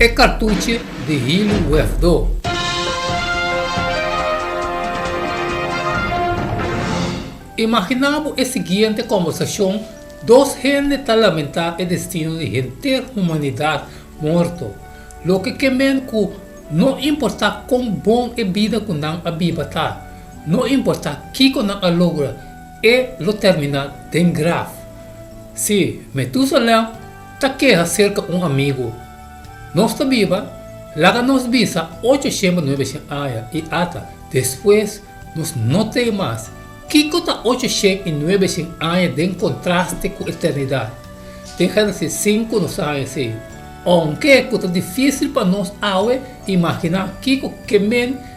E kartuchi di hilu wefdó. Imaginá bo e siguiente kombersashon, Dos hende ta lamentá e destino di henter humanidat morto. Loke ke men ku no importá kon bon e bida ku nan a biba ta, no importá kiko nan a logra, e lo terminá den graf. Sí, me tusa lèu. Ta keha serka un amigu. Nos ta biba, laga nos bisa ocho shemba nuebe shen aña i ata despues nos no tin mas. Kiko ta ocho shen i nuebe shen aña den kontraste ku eternidat? Den Génesis sinku nos ta haña esei. Aunke ku ta difísil pa nos awe imaginá kiko ke men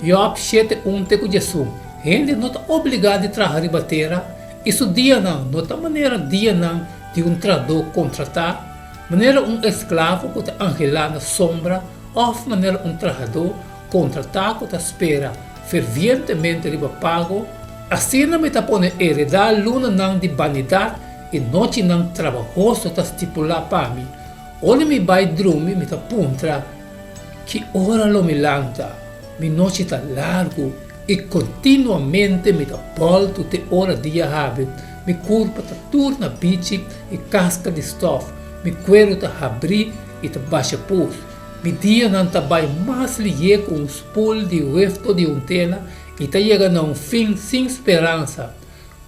Job shete unte ku Jesu, Hende no ta obligá di traha riba tera, i su dianan no ta manera dianan di un trahadó kontratá, manera un esklavo ku ta anhelá na sombra, òf manera un trahadó kontratá ku ta spera fervientemente riba pago. Asina mi ta pone e redá lunanan di banidat, i nochinan trabahoso ta stipulá pa mi. Ora mi bai drumi, mi ta puntra, Ki ora lo mi lanta? Mi nochi ta largu i kontinuamente mi ta bòltu te ora dia habri. Mi kurpa ta tur na bichi i kaska di stòf. Mi kueru ta habri i ta basha pus. Mi dianan ta bai mas lié ku un spul di wef to di un tela i ta yega na un fin sin speransa.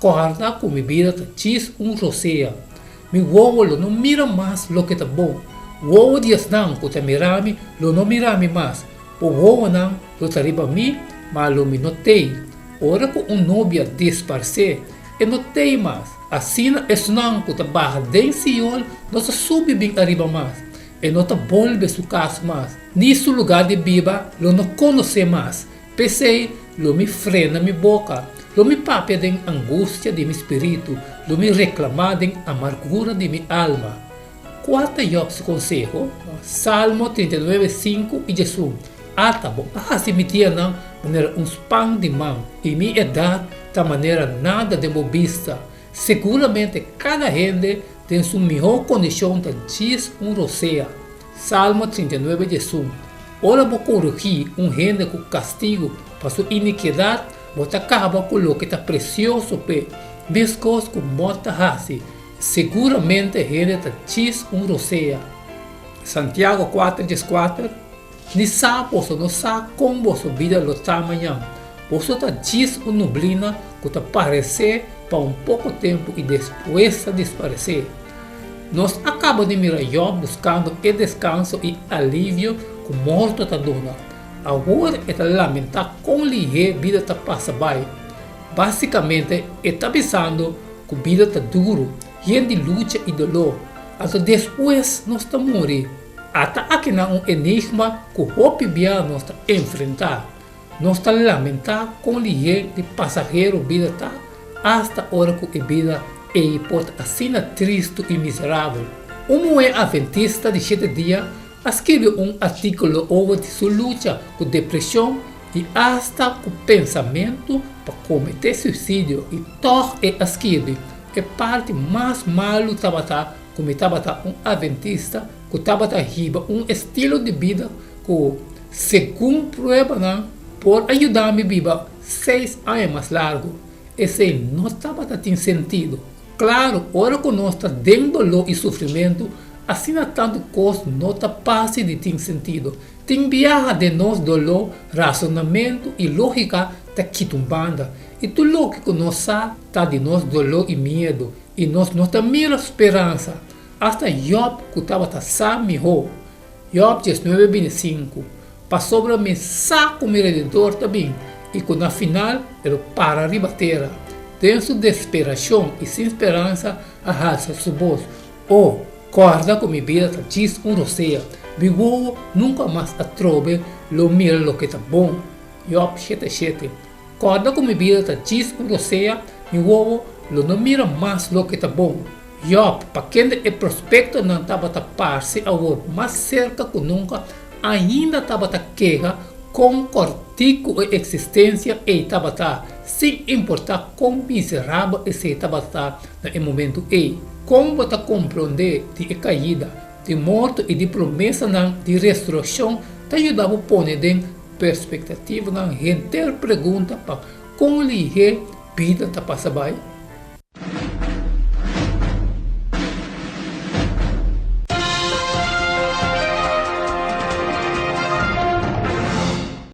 Kòrda ku mi bida ta djis un rosea. Mi wowo lo no mira mas loke ta bon. Wowo di esnan ku ta mira mi lo no mira mi mas. Bo wowonan lo ta riba mi, ma lo mi no tei. Ora ku un nobia disparsé, e no tei mas. Asina esnan ku ta baha den Sion no ta subi bin ariba mas. E no ta bolbe su kas mas, ni su lugá di biba lo no konosé mas. P'esei, lo mi frena mi boka, lo mi papia den angustia di mi spiritu, lo mi reklamá den amargura di mi alma. Kua ta Jòb su konseho? Salmo trinta i nuebe sinku i Jesús, Ata bo a hasi mi dianan manera un span di man, i mi edat ta manera nada den bo bista. Seguramente kada hende den su mihó kondishon ta djis un rosea. Salmo trinta i nuebe dje su, Ora bo korigí un hende ku kastigu pa su inikiedat, bo ta kaba ku loke ta presioso p'e. Meskos ku mort ta hasi, seguramente e hende ta tjis un rosea. Santiago kuater dje skuater, Ni sa boso no sa kon boso bida lo ta mañan. Boso ta tjis un nublina ku ta paresé pa un poko tempu i despues ta disparesé. Nos a kaba di mira Yòb buskando e deskanso i alivio ku morto ta duna. Awor e ta lamentá kon lihé bida ta pasa bai. Básikamente e ta bisando ku bida ta duru, yen di lucha i doló. Anto despues nos ta muri? Ata akinan un enigma ku hopi bia nos ta enfrentá. Nos ta lamentá kon lihé di pasahero bida ta asta ora ku e bida ei por ta asina tristu i miserabel. Un muhé Adventista di Shete Dia a skirbi un artíkulo oba di su lucha ku depreshon i asta ku pensamentu pa kometé suisidio i tòg e a skirbi, E parti mas malu tabata ku mi tabata un Adventista ku tabata hiba un estilo di bida ku Segun pruebanan por a yuda mi biba seis aña mas largu, esei no tabata tin sentido. Claro, ora cu nos ta den dolor y sufrimentu, asina tantu cos no ta parci di tin sentido. Tin biaha den nos dolor, razonamentu y logica ta kita un banda, y tur loke cu nos sa ta di nos dolor y miedu, y nos no ta mira speransa. Asta Job, cu tabata sa miho, Job dieznuebe bintesinku, Pasobra mi sa ku mi rededor ta bin i ku na final e lo para riba tera, den su desperashon i sin speransa a halsa su bos, O kòrda ku mi bida ta djis un rosea, mi wowo nunka mas atrobe lo mira loke ta bon. Job shete shete, Kòrda ku mi bida ta chis ku rosea, mi wowo lo no mira mas loke ta bon. Yòp, pa kende e prospektonan tabata parse awor mas serka ku nunka, ainda tabata keha kon kòrtiku e eksistensia ei tabata, sin importá kon miserabel esei tabata na e momentu ei. Kon bo ta komprondé di e kaida? Di morto i di promesanan di resurekshon ta yuda bo pone den perspektativanan henter pregunta pa kon lihé bida ta pasa bai.